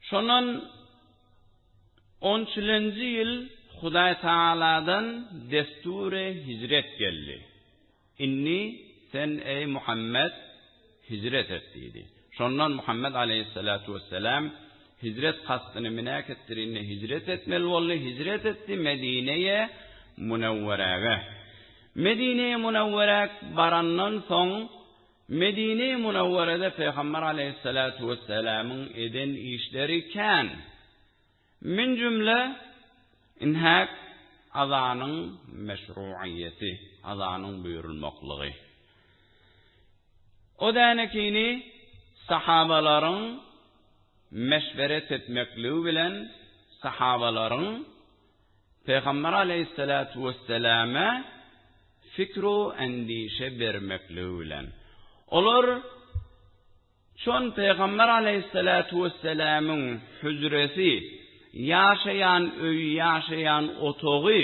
Şondan 13-nji ýyl Hudaý Tagaladan desturi hijret geldi. Indi sen, eý Muhammet, hijret et diýdi. Şondan Muhammet aleýhissalatu wessalam hijret kastyny minak etdirinde hijret etmeli boldy, hijret etdi Medineýe Munewwerege. Medineýe Munewwerek barandan soň Medine-i Munawwarada Pygamber Aleýhissalatu Wesselamyň eden işleri kän. Min jümle inhak azanyň meşruiýeti, azanyň buýrulmaklygy. O dänekini sahabalaryň meşweret etmekligi bilen sahabalaryň Pygamber aleýhissalatu wesselama fikru endişe bermekligi bilen, olar çon pygamber aleýhissalatu wesselamyň hüjresi, ýaşaýan öýi, ýaşaýan otagy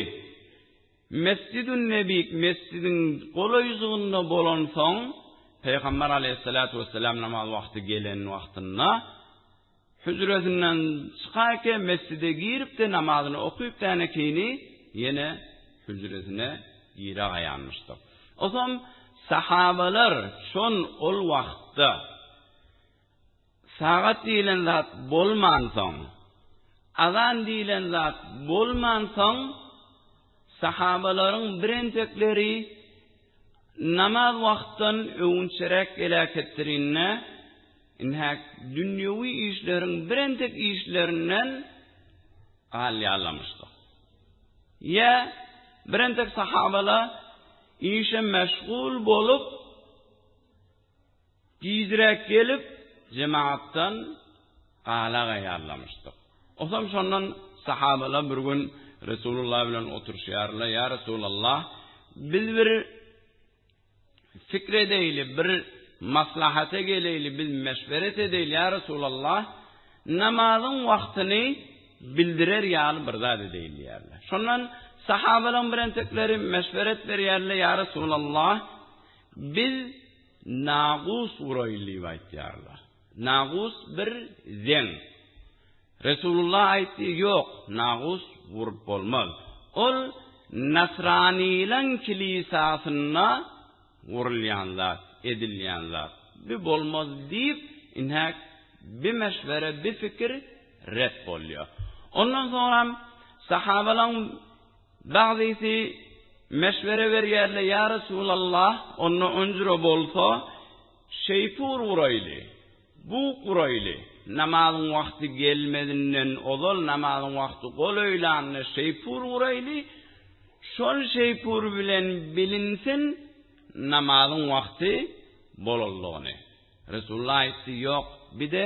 Mesjidün Nebik, mesjidiň golaýjygynda bolansoň, pygamber aleýhissalatu wesselam namaz wagty gelen wagtynda, Hüjresinden çykarkä mesjide girip-de namazyny okyp däne keýni ýene hüjresine giragaýanmyşdyr. Osam sahabalar şon ol wagtda sagat diýilen zat bolmansoň, azan diýilen zat bolmansoň, Sahabalaryň birentekleri namaz wagtdan öwünçeräk geläketdirinde, ine, dünýewi işleriň birentek işlerinden galýarlamyşdyr. Ýa, birentek sahabalar işe meşgul bolup, Tizräk gelip, jematdan gala gaýarlamyşdyk. Osam şondan sahabalar bir gün Resulullah bilen oturyşýarlar, Ýa Resulallah, biz bir pikir edeýli, bir maslahata geleýli, biz meşweret edeýli, ýa Resulallah, namazyň wagtyny bildirer ýaly bir zat edeýin diýýärler. Şondan sahabalaryň birentekleri meşweret berýärler, Ýa Resulallah, Biz nagus uraýyl diýip aýtýarlar. Nagus bir zeň. Resulullah aýtdy, Ýok, nagus urup bolmaz. Ol nasranylaň kilisasynda urulýan zat, edilýän zat. Bi bolmaz diýip, ine, bi meşwere, bi pikir ret bolýar. Ondan soňam sahabalaň Bagdysy meşwere berýärler, Ýa Resulallah, onda onjura bolsa, şeýpur guraýly, bug guraýly, namazyň wagty gelmezinden ozal, namazyň wagty golaýlanda şeýpur guraýly, şol şeýpur bilen bilinsin namazyň wagty bolandygyny. Resulullah aýtdy, Ýok, bir-de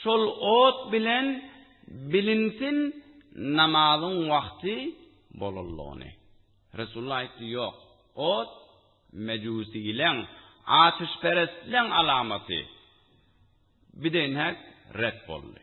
Şol ot bilen bilinsin namazyň wagty bolanlygyny. Resulullah aýtdy, Ýok, ot mejusileň, ateşperestleň alamaty. Bideýnhek ret boldy.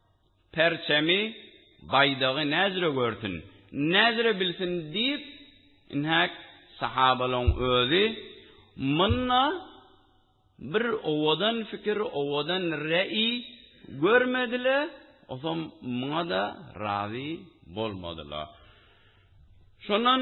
Perçemi, baýdagy näzire görsün, näzire bilsin diýip, inhäk sahabalaň özi munda bir owadan fikir, owadan reý görmediler, osam muňa-da razy bolmadylar. Şondan.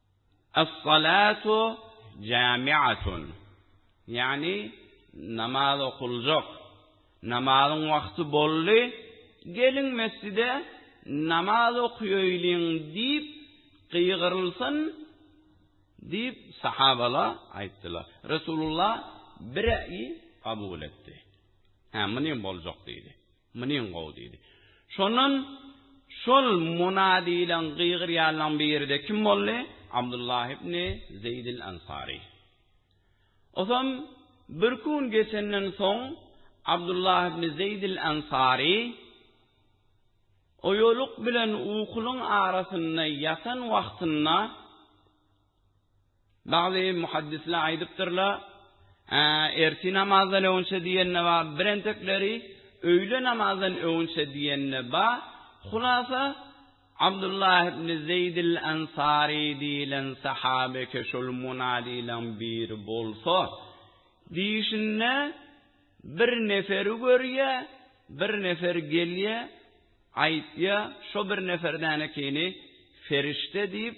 As-salatu jami'atun. Ýagny namaz okuljak. Namazyň wagty boldy, geliň mesjide namaz okaýaýlyň diýip gygyrylsyn diýip sahabalar aýtdylar. Resulullah bireý kabul etdi. Hä, muny boljak diýdi. Munyň gowy diýdi. Şondan şol Muna diýlen gygyrýanlaň biri-de kim boldy? Abdullah ibn Zeýdil Ansary. Osam bir kun geçenden soň Abdullah ibn Zeýdil Ansary oýalyk bilen ukulyň arasynda ýatan wagtynda, Bagty muhaddisler aýdypdyrlar, Ertir namazdan öňçe diýende bar, birentekleri Öýle namazdan öňçe diýende bar, hulasa, Abdullah ibn Zeýdil Ansary diýilen sahabeke şol munadileriň biri bolsa, diýşinde, bir neferi görýä, bir nefer gelýä, aýtýa, şo bir neferden ekeni ferişde diýip,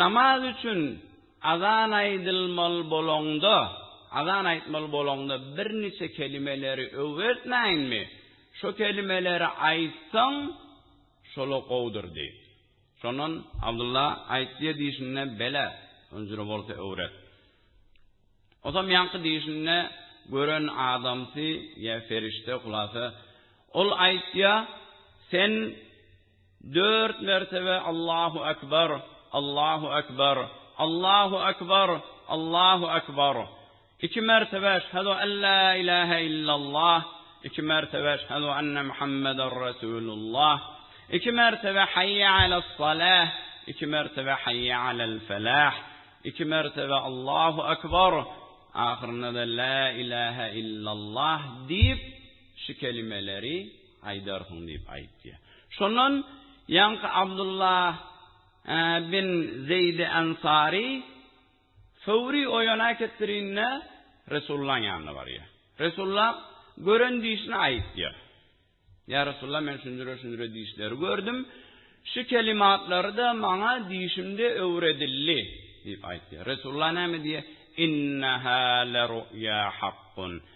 Namaz üçin azan aýdylmaly bolaňda, azan aýtmaly bolaňda birniçe kelimeleri öwretmäýinmi? Şo kelimeleri aýtsaň, şola gowudyr diý. Şondan Abdylla aýtdy-da diýşinde, Bele, öňjüre bolsa öwret. Otam ýaňky diýşinde gören adamsy ýa ferişde, hulasa, ol aýtýa, Sen Dört mertebe Allahu Akbar, Allahu Akbar, Allahu Akbar, Allahu Akbar. Iki mertebe Eşhedü en la ilahe illallah, iki mertebe Eşhedü enne Muhammeden Resulullah, iki mertebe Hayye alas salah, iki mertebe Hayye alel felah, iki mertebe Allahu Akbar, ahyrynda-da La ilahe illallah diýip, şu kelimeleri, Aýdarsyň diýip aýt diýýär. Şondan ýaňky Abdulla bin Zeýdi Ensary Fowry oýan äketdirinde Resulullahyň ýanyna barýar. Resulullah gören dişini aýt diýýär. Ýa Resulullah men şunjure-şunjure dişleri gördüm. Şu kelimatlary-da maňa dişimde öwredildi diýip aýt diýýär. Resulullah näme diýýär? Inneha leruýa hakkun.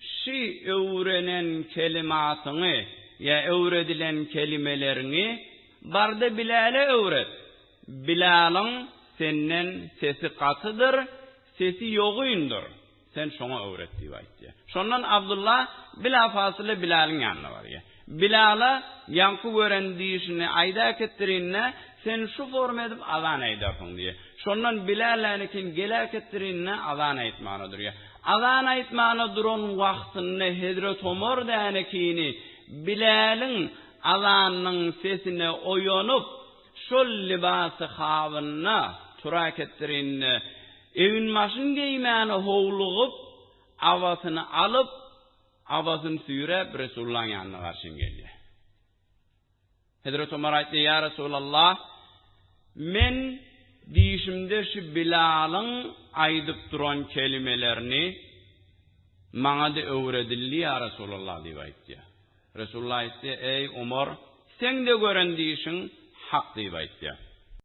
Şu öwrenen kelimatyňy ýa öwredilen kelimeleriňi bar-da Bilale öwret. Bilalyň senden sesi gatydyr, sesi ýogyndyr. Sen şoňa öwret diýip aýt diýýär. Şondan Abdulla bilapasyla Bilalyň ýanyna barýar. Bilala ýaňky gören düýşüni aýda äketdirin-de, sen şu forma edip azan aýdarsyň diýýär. Şondan Bilal lälikin gel äketdirin-de, azan aýtmana durýar. Azan aýtmana duran wagtynda hezret Omar lälikini Bilaliň azanynyň sesine oýanyp, şol libasy habynyna tur äketdirin-de, egin-başyn geýmäne howlugyp, abasyny alyp, Abasyny süýräp, Resulullahyň ýanyna garşyň gelýär. Hezreti Omar aýtdy, Ýa Resulallah, men dişimde şu Bilalyň aýdyp duran kelimelerini maňa-da öwredildi, ýa Resulallah diýip aýtýar. Resulullah aýtdy, Eý, Omar, seň-de gören dişiň hak diýip aýtýar.